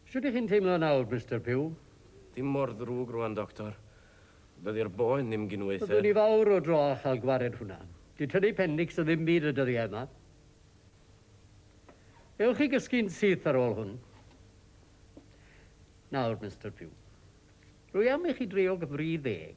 Shwt ych chi'n teimlo nawr, Mister Pugh? Dim mor ddrwg rwan, Doctor. Dydi'r boen ddim gin weithio. Byddwn i fawr o dro â chael gwared hwnna. Dyw tynnu pendics yn ddim byd y dyddiau yma. Ewch i gysgu'n syth ar ôl hwn. Nawr, Mister Pugh. Rwy am i chi dreog fri ddeg.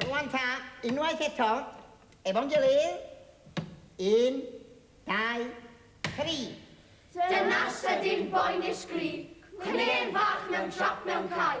Rwan ta, unwaith eto, efo'n gilydd. Un, dau, tri. Dyna sydyn boenish gri, cwne'n fach mewn trap mewn cae.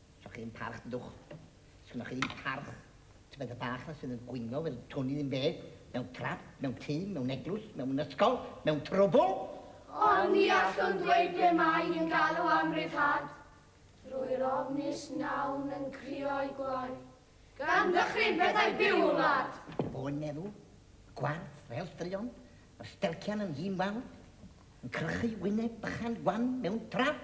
Sgynnoch chi ddim parch, dydwch. Sgynnoch chi ddim parch. Tybed y bach na sydd yn gwyno fel twn i ddim beth, mewn trap, mewn tŷ, mewn eglwys, mewn ysgol, mewn trwbl? Ond ni allwn ddweud be mae yn galw am ryddhad. Drwy'r ofnus nawn yn crio'i gloi. Gan ddychryn pethau byw y wlad. Boen meddw, y gwarth, fel straeon, yr stelcian yn hun wawr, yn crychu wyneb bychan wan mewn trap.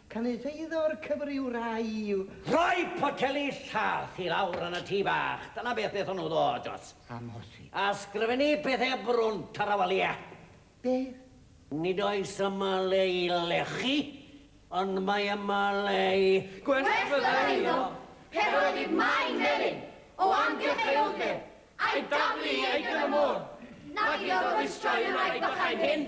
Cynulleidfao'r cyfr yw rhai i'w. Rhoi poteli llath i lawr yn y tŷ bach, dyna beth wnaethon nhw ddod dros. Amhosib. A sgrifennu pethau brwn tarawaliau. Beth? Nid oes yma le i lechu, ond mae yma le i. Gwerthfawrogi'r eiddo, heb yr ydi mai melin o amgylch ei wddf, a'i daflu i aegr y môr, nag iddo rwystroi y wraig bychain hyn.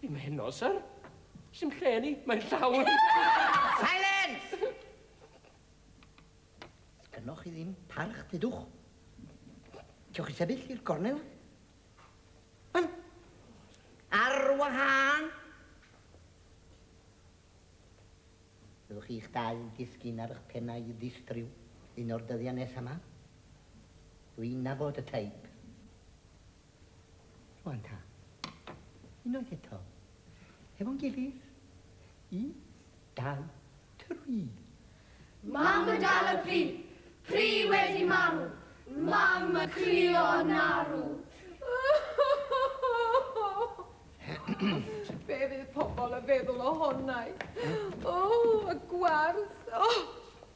Dim heno, sir. Sim lle ni, mae'n llawn. Silence! Sgynnoch chi ddim parch, dydwch. Cewch chi sefyll i'r gornel? Wel, ar wahân. Byddwch chi'ch dau yn disgyn ar eich pennau i ddistryw un o'r dyddiau nesaf yma. Dwi'n nabod y teip. Rwan ta. Unwaith eto. Hefo'n gilydd. Un, dau, tri. Mam yn dal y pri. Pri wedi marw. Mam y crio yn arw. Be fydd pobl yn feddwl o honnau? O, y gwarth. O,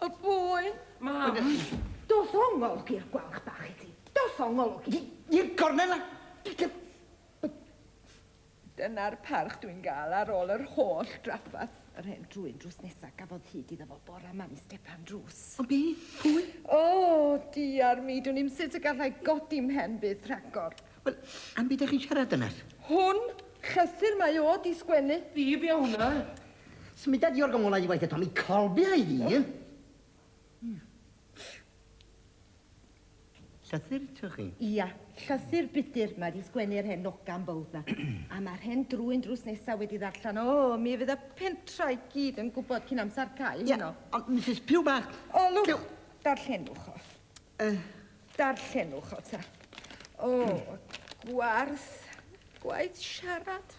y boen. Mam. Dos ongol i'r gwalch bach i ti. Dos o ngolwg i i'r gornel a digon! Dyna'r parch dwi'n gael ar ôl yr holl drafferth. Yr hen drwyn drws nesa gafodd hyd iddo fo bora ma yn stepan drws. Ond be? Pwy? O, diar mi, dwn i'm sut y gallai godi mhen byth rhagor. Wel, am beth dych chi'n siarad dynas? Hwn! Llythyr mae o di sgwennu. Fi be o hwnna? Symuda di o'r gymwlad i waith eto, mi colbia i fi! Llythyr to chi? Ia, llythyr budur, mae wedi sgwennu'r hen nogan bowd na. A mae'r hen drwyn drws nesaf wedi ddarllen. O, mi fydd y pentra i gyd yn gwybod cyn amser cael hyn o. Ia, ond Misus Piw bach... O, lwch, darllenwch o. Uh. Darllenwch o ta. O, gwarth, gwaith siarad.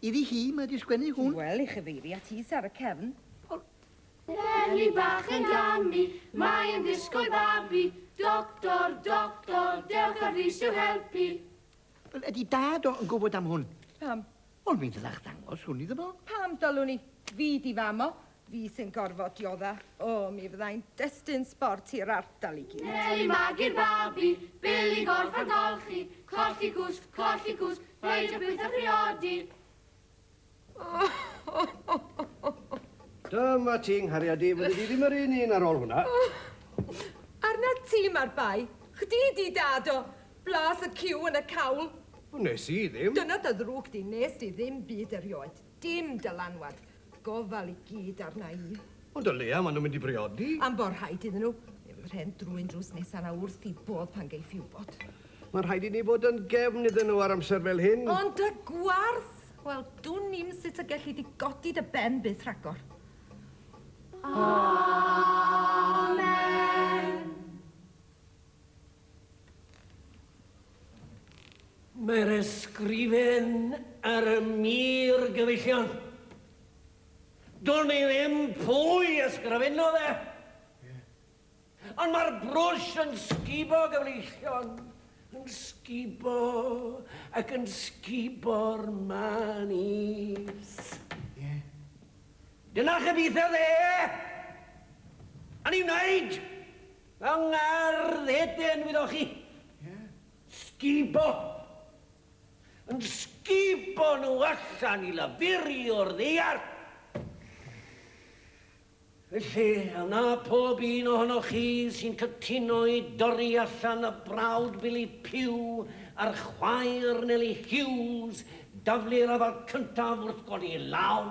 Iddi hi mae 'di sgwennu hwn. Wel, i chyfeiru at is ar y cefn. Wel. Eleni bach yn gamu, mae yn disgwyl babi. Doctor, doctor, dewch â frys i'w helpu. Wel, ydi dad o yn gwybod am hwn? Pam? Wel, mi ddylech ddangos hwn iddo fo. Pam dylwn i? Fi di fam o. Fi sy'n gorfod diodda. O, mi fyddai'n destun sbort i'r ardal i gyd. Peli magu'r babi, Bil i gorff a golchi, Colli cwsg, colli cwsg, Rhaid y pwyth a phriodi. Dyma ti, 'nghariad i, fyddi di ddim yr un un ar ôl hwnna. Arna ti mae'r bai. Chdi 'di dad o. Blas y ciw yn y cawl. Wnes i ddim. Dyna dy ddrwg di, 'nes di ddim byd erioed. Dim dylanwad. Gofal i gyd arna i. Ond o leia ma nhw'n mynd i briodi. Am bo rhaid iddyn nhw. Fe fydd rhên drwyn drws nesa na wrth i bob pan geiff i wbod. Mae'n rhaid i ni fod yn gefn iddyn nhw ar amser fel hyn. Ond dy gwarth! Wel, dwn i'm sut y gelli di godi dy ben byth rhagor. Amen! Mae'r ysgrifen ar y mur gyfellion. Do'n i ddim pwy ysgrifennodd e. Ond mae'r brwsh yn sgubo gyfleillion, yn sgubo ac yn sgubo'r man is. Dyna lle byth oedd e! O'n i'n wneud! Fel ngardd hedyn wyddoch chi. Sgubo. Yn sgubo nhw allan i lafurio'r ddeiar. Felly, a wna pob un ohonoch chi sy'n cytuno i dorri allan y brawd Billy Pugh a'r chwaer Nellie Hughes daflu'r afal cyntaf wrth godi law?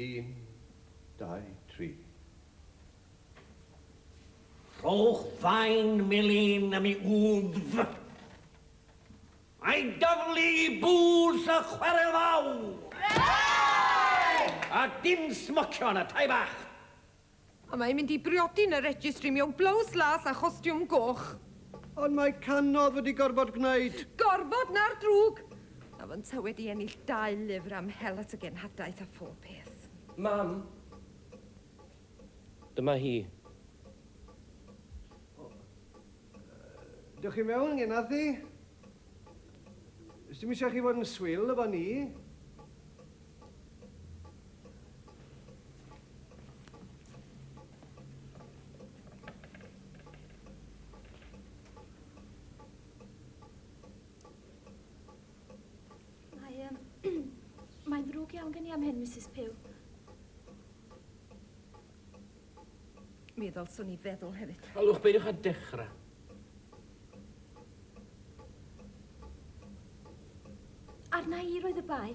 Un, dau, tri. Rhowch fain melin am i wddf. Mae daflu bws y chwarel fawr. Bravo! A dim smocio yn y tai bach. A mae'n mynd i briodi yn y registry mewn blows las a chostiwm goch. Ond mae canodd wedi gorfod gwneud. Gorfod, na'r drwg! A fo ynta wedi ennill dau lyfr am hel at y genhadaeth a phob peth. Mam! Dyma hi. Dewch i mewn, Genarthi. Does dim eisiau chi fod yn swil efo ni. Mae, um, mae'n ddrwg iawn gen i am hyn, Mrs Pugh. Mi ddylswn i feddwl hefyd. Olwch, peidiwch â dechrau. Arna i roedd y bai.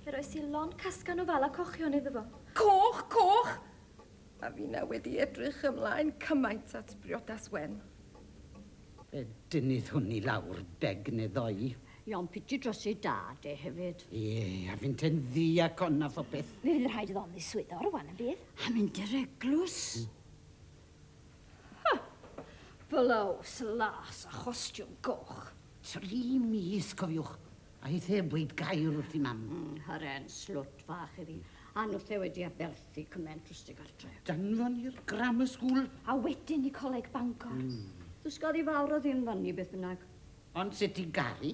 Fe roes i lon casgan o fala cochion iddo fo. Coch, coch! A finna wedi edrych ymlaen cymaint at briodas wen. Fe dynnuddwn i lawr beg neu ddoi. Iawn piti dros ei dad e hefyd. Ie, a finte'n ddiacon a phopeth. Fe fydd rhaid iddo ymddiswyddo rwan yn bydd? A mynd i'r eglwys. Ha! Blows las a chostiwm goch. Tri mis, cofiwch. A hith heb weud gair wrth i mam. Mm, haren, slwt fach iddi. A nwth e wedi aberthu cyment drwsti gartre. Danfon i'r grammar school. A wedyn i coleg Bangor. Mm. Dysgodd i fawr o ddim fanni beth bynnag. Ond sut i garu?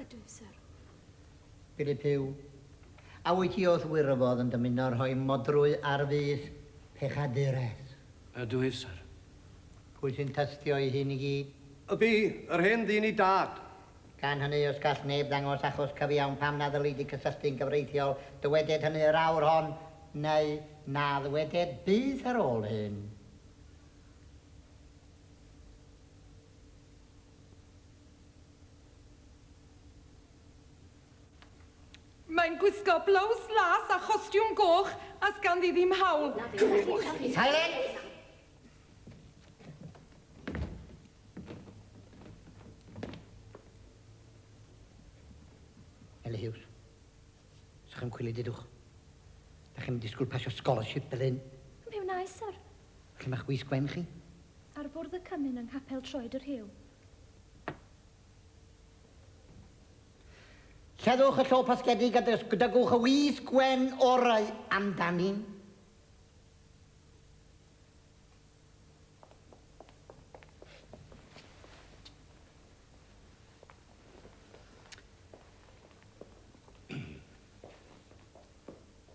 Ydw, syr. Philip Huw, A wyt ti wrth wŷr o fod yn dymuno rhoi modrwy ar fys pechaduraeth? Ydw i, syr. Pwy sy'n tystio i hyn i gyd? Y bu yr hen ddyn i dâd. Gan hynny, os gall neb ddangos achos cyfiawn pam na ddylid y cysylltu'n gyfreithiol, dyweded hynny yr awr hon, neu na ddyweded byth ar ôl hyn. Mae'n gwisgo blows las a chostiwm goch a sganddi ddim hawl. Silence! Ellis Hughes. Sech chi'n cwili dydwch? Dach chi'm yn disgwyl pasio scholarship fel hyn. Mi wnaes, syr. A lle mae chwi sgwen chi? Ar fwrdd y cymun yng nghapel Troed y Rhiw. Lleddwch y llo pasgedig a dygwch y wisg wen orau amdani.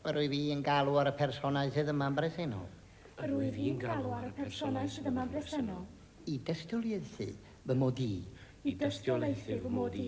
Yr wyf i'n galw ar y personau sydd yma'n bresennol. Yr wyf i'n galw ar y personau sydd yma'n bresennol. I dystiolaethu fy mod i. I dystiolaethu fy mod i.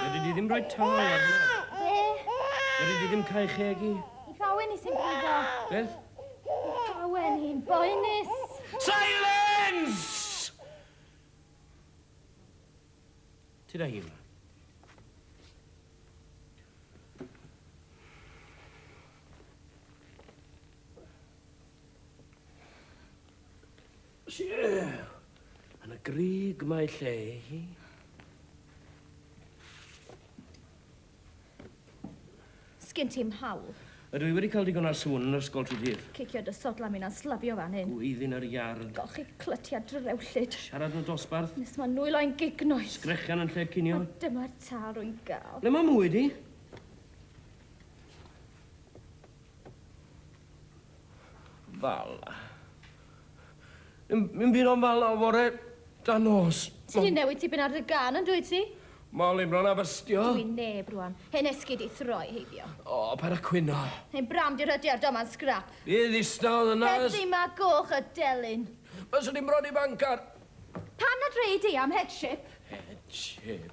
Fedri di ddim rhoi tâl ar hwnna. Be? Fedri di ddim cael chegi. I fawen i sy'n brifo. Beth? I fawen i'n boenus. Silence! Ti da hi yma. Yn y gryg mae lle hi. Sgyn ti'm hawl. Ydw i wedi cael digon ar sŵn yn yr ysgol tro dydd. Cicio dy sodla mi'n anslafio fan hyn. Gwyddyn yr iard. Golchi clytiad drewllyd. Siarad yn y dosbarth. Nes mae nwylo i'n gignoeth. Sgrechian yn lle'r cinio. A dyma'r tâl rwy'n gael. Ble mae mwy di? Fal. Yn, yn byd o'n fal o fore da nos. Ti di newid tipyn ar dy gan yn dwyt ti? Mol i bron a bystio. Dwi neb rwan. Hen esgid i throi heibio. O, paid a cwyno. Hen bram di rhydiar, doma'n sgrap. Fi ddistaw yn nas. Heddi ma goch y delyn. Fyswn i'n bron i fancar. Pan na dre i di am headship. Headship.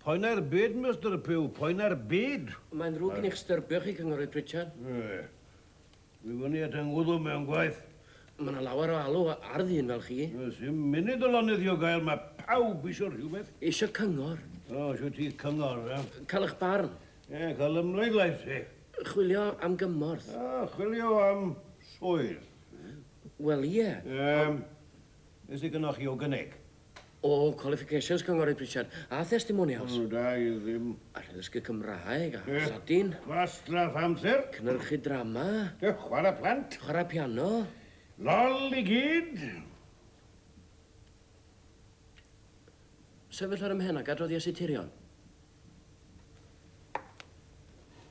Poen ar byd, Mister Pugh, poen ar byd! Mae'n ddrwg gen i chtdyrbio chi, Cynghorydd Pritchard. Ie. Dwi fyny at 'y ngwddw mewn gwaith. Mae yna lawer o alw ar ddyn fel chi. Does dim munud o lonydd i'w gael, mae pawb eisiau rhywbeth. Eisiau cyngor. O, eisiau ti cyngor, e? Cael eich barn. Ie, cael ymhleidlais, te. Chwilio am gymorth. O, chwilio am swydd. Wel, ie. Yym, be sy gynnoch chi i'w gynnig? O, qualifications, Cynghorydd Pritchard, a thestimonials. O, da i ddim. Allai ddysgu Cymraeg, a Lladin. Gwastraff amser. Cynyrchu drama. A chwarae plant. Chwarae piano. Lol i gyd! Sefyll ar ym mhen ac adroddias i tirion.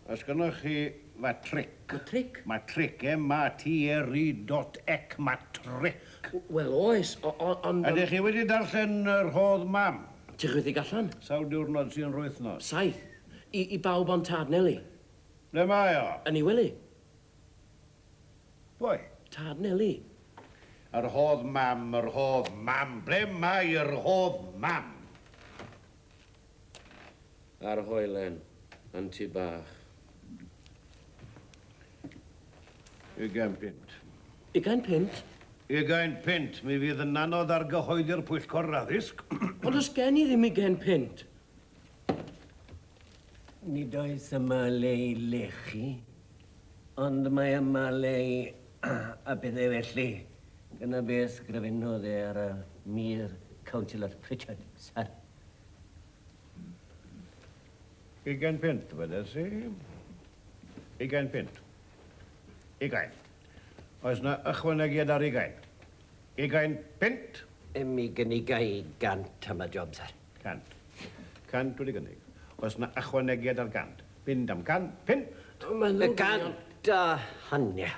Os gynnoch chi matric. Matric? Matric, M-A-T-R-I dot ec, matric. W- wel, oes, o- o- ond... Ydych chi wedi darllen y rhodd mam? Tychwithig allan. Sawl diwrnod sy'n rwythnos? Saith. I, i bawb ond Tad Neli. Ble mae o? Yn ei wely. Pwy? Tad Neli. Y rhodd mam, y rhodd mam. Ble mae y rhodd mam? A'r hoelen yn tŷ bach. Ugain punt. Ugain punt? Ugain punt. Mi fydd yn anodd argyhoeddi'r pwyllgor yr addysg. Ond does gen i ddim ugain punt. Nid oes yma le i lechu, ond mae yma le i a pethau felly. Dyna be ysgrifennodd e ar y mur, Councillor Pritchard, sir. Ugain punt, dywedais i. Ugain punt. Ugain. Oes na ychwanegiad ar ugain? Ugain punt? Ym i gynigai gant am y job, sir. Cant. Cant wedi gynnig. Oes na ychwanegiad ar gant? Mynd am can punt. Mae nhw'n... Cant a hanner.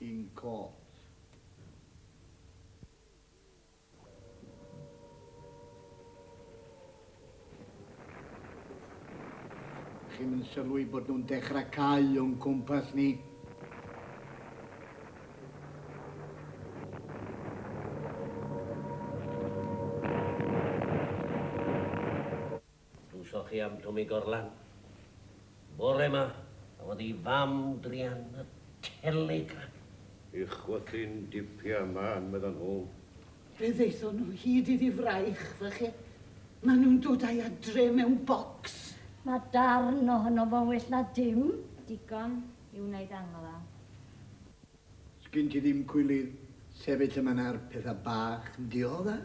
in court. Chi'm yn sylwi bod nhw'n dechrau cau o'n cwmpas ni? Dwsoch chi am Twmi Gorlan bore ma? A oedd ei fam dri an y Telegraph? I chwythu'n dipia man, meddan nhw. Fe ddaethon nhw hyd iddi fraich, fach e. Maen nhw'n dod a'i adre mewn bocs. Mae darn ohono fo'n well na dim. Digon i wneud angladd. Sgin ti ddim cwilydd sefyll yma na'r petha bach yn diodda?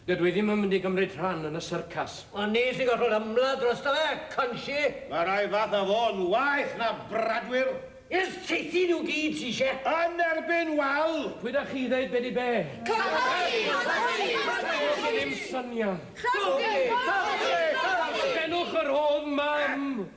Dydw i ddim yn mynd i gymryd rhan yn y syrcas. Ond ni sy'n gorfod ymladd drosto fe, Conshi! Mae rhai fatha fo'n waeth na bradwyr! Ers teithi nhw gyd ti isie? Yn erbyn wal! Pwy da chi ddeud be di be? Cyhoeddi! Cyhoeddi! Does gennym syniad! Cyhoeddi! Cyhoeddi! Cyhoeddi! Benwch yr hodd mam!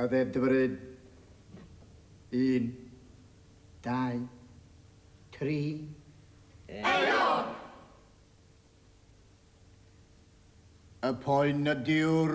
a ddedfryd, un, dau, tri. Aelod! Y poen ydyw'r